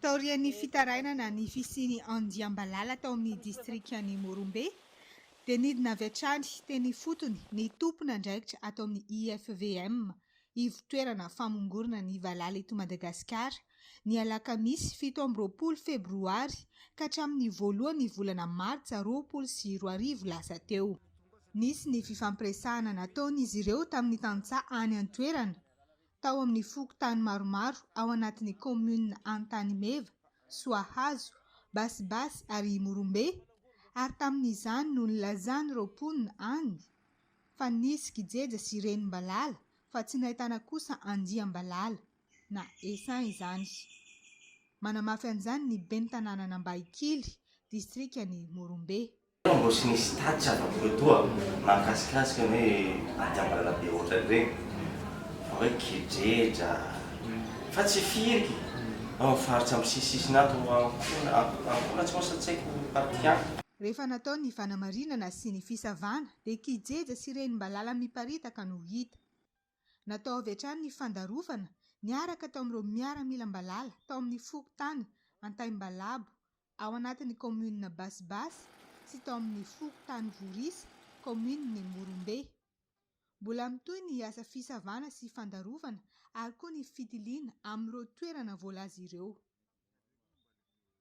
Taorian'ny fitarainana ny fisian'ny andiam-balala tao amin'ny distrikan'i Morombe, dia nidina avy hatrany teny ifotony ny tompon'andraikitra ato amin'ny IFVM, Ivo-toerana famongorana ny valala eto Madagasikara, ny alakamisy fito amby roapolo febroary ka hatramin'ny voalohan'ny volana martsa roapolo sy roa arivo lasa teo. Nisy ny fifampiresahana nataon'izy ireo tamin'ny tantsaha any an-toerana, tao amin'ny fokontany maromaro ao anatin'ny kaominina Antanimeva, Soahazo, Basibasy ary Imorombe, ary tamin'izany no nilazan'ireo mponina any, fa nisy kijeja sy renim-balala fa tsy nahitana kosa andiam-balala na essaim izany. Manamafy an'izany ny ben'ny tanànan'Ambahikily, distrikan'i Morombe. Tena mbola tsy nisy tatitra avy amin'ny Fotoa mahakasikasika ny hoe andiam-balala be ohatran'ireny fa hoe kijeja fa tsy firy ao amin'ny faritra misisisina ato Ankoholatsy moa sa tsy haiko partie an. Rehefa natao ny fanamarinana sy ny fisavana dia kijeja sy renim-balala miparitaka no hita. Natao avy hatrany ny fandarovana niaraka taomin'ireo miaramilam-balala tao amin'ny fokontany Antaimbalabo ao anatin'ny kaominina Basibasy sy tao amin'ny fokontany Vorisa kaominin'i Morombe. Mbola mitohy ny asa fisavana sy fandarovana ary koa ny fitiliana amin'ireo toerana voalaza ireo.